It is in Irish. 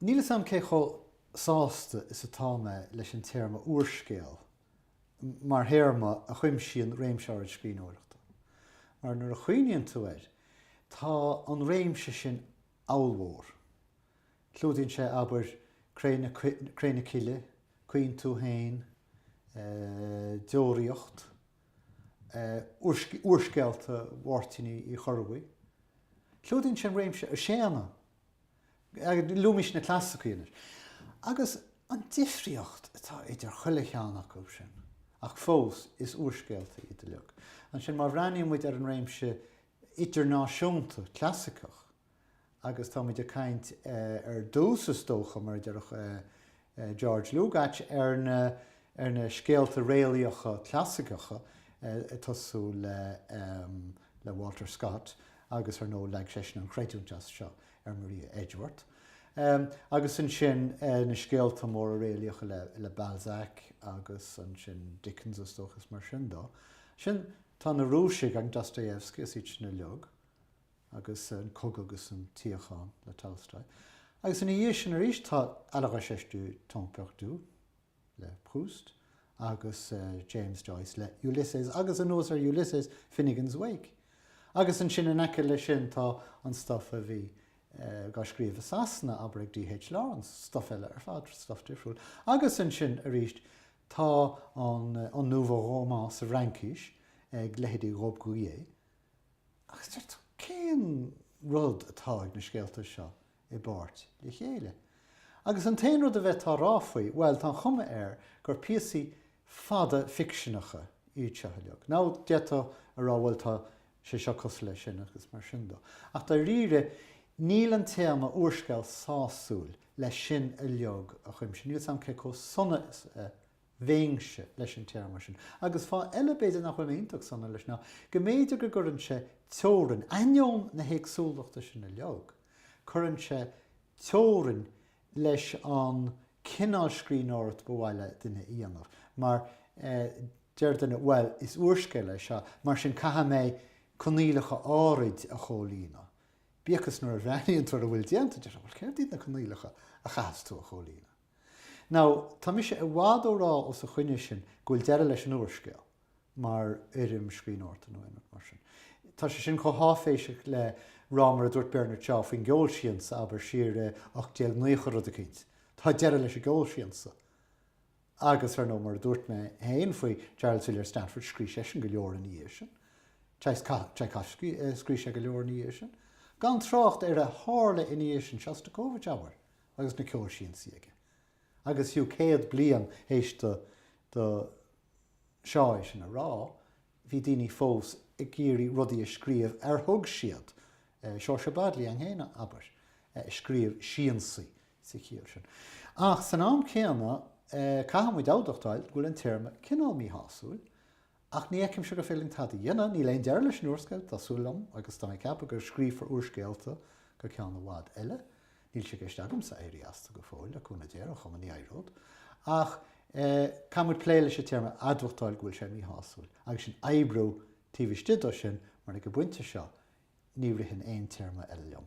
Níl 'fhios a'm cé chomh sásta is atá mé leis an téarma 'úrscéal' mar théarma a chuimsíonn réimse áirid scríbhneoireachta, mar nuair a chuimhníonn tú air, tá an réimse sin ollmhór. Clúdaíonn sé, abair, 'Cré na Cille', 'Caoin Tú Fhéin', 'Deoraíocht', úrscéalta Mháirtín Uí Chorrbuí. Clúdaíonn sé an réimse 'Séadna' Luaimis na clasaicí anois. Agus an difríocht atá idir chuile cheann acu sin. Ach fós, is úrscéalta iad uilig. Ansin, má bhreathnaíonn muid ar an réimse idirnáisiúnta clasaiceach, agus tá muid ag caint ar dtús is dócha, mar a déarfadh George Lukács ar na ar na scéalta réalaíocha clasaiceacha ag tosú le le Walter Scott agus ar ndóigh leag seisean an chreidiúint as seo ar Maria Edgeworth agus ansin na scéalta móra réalaíocha le le Balzac agus ansin Dickens is dócha is mar sin dó. Ansin tá na Rúisigh agus Dostoevsky is iad sin uilig. agus an cogadh agus an tsíocháin le Tolstoy, agus ina dhiaidh sin arís tá À la recherche du temps perdu le Proust agus James Joyce le Ulysses agus anuas ar Ulysses, Finnegans Wake. Agus ansin in aice leis sin tá an stuff a bhí dhá scríobh i Sasana, abair ag D.H. Lawrence, stuff eile ar fad, stuff difriúil. Agus ansin arís tá an nouveau roman sa Fhraincis ag leithéidí Robbe-Grillet, Agus deir tú, cén rud atá ag na scéalta seo i bpáirt le chéile? Agus an t-aon rud a bhféadfá a rá faoi, bhuel, tá an chuma air gur píosaí fada ficseanacha iad seo uilig. Now, d'fhéadfá a rá, bhuel, tá sé seo cosúil leis sin agus mar sin dó. Ach dáiríre, níl an téarma úrscéal sásúil le sin uilig a chuimsiú. Níl 's a'm cé chomh sona is a Bheinnse leis an téarma sin. Agus fáth eile b'fhéidir nach bhfuil mé iontach sona leis ná go mb'fhéidir go gcuireann sé teorainn, ainneoin na héagsúlachta sin uilig, cuireann sé teorainn leis an cineál scríbhneoireacht ba mhaith le duine a dhéanamh. Mar, deir duine, bhuel, is úrscéal é seo, mar sin caithfidh mé coinníollacha áirid a chomhlíonadh. Bíodh is nuair a bhreathnaíonn tú ar a bhfuil déanta, deir tú, bhuel, céard iad na coinníollacha a chaithfeas tú a chomhlíonadh? Now, tá mise i bhfad ó rá os a choinne sin go bhfuil deireadh leis an úrscéal mar fhoirm scríbhneoireachta nó aon rud mar sin. Tá sé sin chomh háiféiseach le rá mar a dúirt Bernard Shaw faoin gceolsiansa, abair, siar i 1890 rud eicínt. Tá deireadh leis an gceolsiansa. Agus, ar ndóigh, mar a dúirt mé féin faoi Charles Villiers Stanford, scrí' seisean go leor ina dhiaidh sin. Tchaikovsky, scrí' sé go leor ina dhiaidh sin. Gan trácht ar a tharla ina dhiaidh sin, Shostakovich, abair. agus na ceolsiansaí aige. Agus fiú céad bliain théis do do Shaw é sin a rá, bhí daoine fós ag iarraidh rudaí a scríobh ar thug siad, Seoirse Bodley an hÉireann, abair, a scríobh siansaí sa chiall sin. Ach san am céanna, caithfidh muid admhachtáil go bhfuil an téarma cineál míshásúil Ach ní fheicimse go féidir linn tada a dhéanamh, níl aon deireadh leis an úrscéal, tá súil agam, agus tá mé ag ceapadh go scríofar úrscéalta go ceann i bhfad eile. Níl sé i gceist agamsa éirí astu go fóill, le cúnamh Dé, ar aon chuma, ní éireod. Ach caithfidh muid plé leis an téarma admhachtáil go bhfuil sé míshásúil, agus sinn oibriú taobh istigh dó sin, mar ag an bpointe seo ní ritheann aon téarma eile liom.